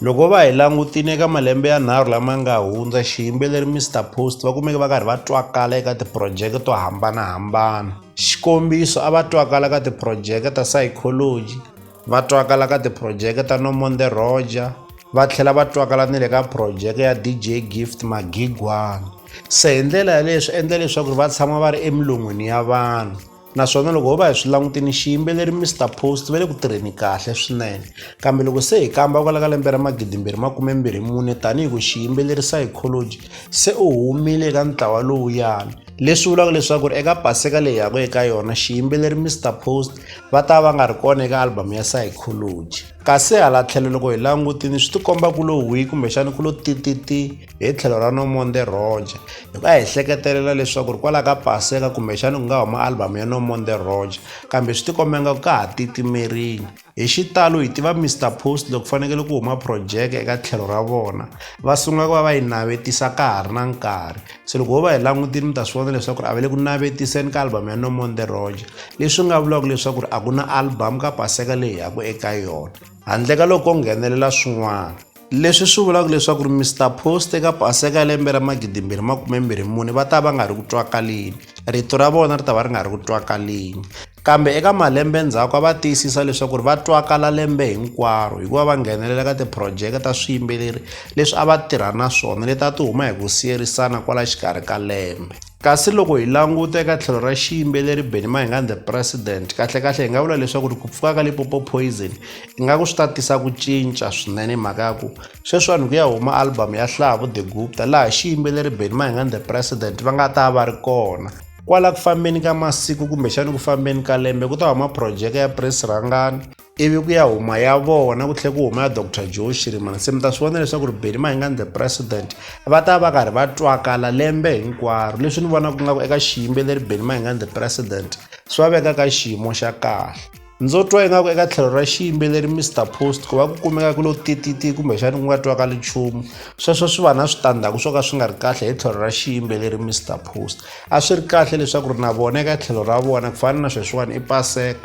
Loko va hi langutile eka malembe yanharhu lama nga hundza, xiyimbeleri Mister Post va kumeke va karhi va twakala eka tiphurojeke to hambanahambana. Xikombiso, a va twakala ka tiphurojeke ta Psychology, va twakala ka tiphurojeke ta No More The Roger, va tlhela va twakala ni le ka phurojeke ya DJ Gift Magigwana. Se hi ndlela yaleyo swi endla leswaku va tshama va ri emilon'wini ya vanhu. naswona loko ho va hi swi langutini xiyimbeleri mr post va le ku tirheni kahle swinene kambe loko se hi kamba kwala ka lembe ra magidimbirhi makumembirhi mune tanihi ku xiyimbeleri psychology se u humile eka ntlawa lowuyani leswi vulaka leswaku ri eka paseka leyi yaka eka yona xiyimbeleri mr post va ta va nga ri kona eka album ya psychology kasi hala tlhelo loko hi langutini swi tikomba ku lo wi kumbexani ku lo tititi hi tlhelo ra nomonde roger hi nga hi hleketelela leswaku ri kwalaho ka paseka kumbexana ku nga huma albhamu ya nomonde roger kambe swi tikomba nga ku ka ha titimerile hi xitalo hi tiva mr post loko fanekele ku huma projeke eka tlhelo ra vona va sungula ku va va yi navetisa ka ha ri na nkarhi se loko ho va hi langutile mi ta swi vona leswaku ri a va le ku navetiseni ka albhamu ya nomonde roger leswi nga vulaka leswaku ri a ku na albhamu ka paseka leyi yaku eka yona handle ka loko ko nghenelela swin'wana leswi swi vulaka leswaku ri mr post eka paseka ya lembe ra magidimbirhi makumembirhi mune va ta va nga ri ku twakaleni rito ra vona ri ta va ri nga ri ku twakaleni kambe eka malembe ndzhaku a va tiyisisa leswaku ri va twakala lembe hinkwaro hikuva va nghenelela ka tiphurojeke ta swiyimbeleri leswi a va tirha na swona leti a ti huma hi ku siyerisana kwala xikarhi ka lembe kasi loko hi languta eka tlhelo ra xiyimbeleri benny mahingani the president kahlekahle hi nga vula leswaku ri ku pfuka ka lipopo poison ingaku swi ta tisa ku cinca swinene mhaka ya ku sweswi vanhu ku ya huma album ya hlavu the gupta laha xiyimbeleri benny mahingani the president va nga ta va ri kona kwala ku fambeni ka masiku kumbexani ku fambeni ka lembe ku ta huma phurojeke ya prince rhangani ivi ku ya huma ya vona ku tlhe ku huma ya dr joe shirimana se mi ta swi vona leswaku ri beli mahingani the president va ta va karhi va twakala lembe hinkwaro leswi ni vonaka nga ku eka xiyimbeleri beli mahingani the president swi va veka ka xiyimo xa kahle ndzo twa ingaku eka tlhelo ra xiyimbeleri mr post ku va ku kumeka ku lo tititi kumbexani ku nga twakali nchumu sweswo swi va na switandzhaku swo ka swi nga ri kahle hi tlhelo ra xiyimbeleri mr post a swi ri kahle leswaku ri na vona eka tlhelo ra vona ku fana na sweswiwani i paseka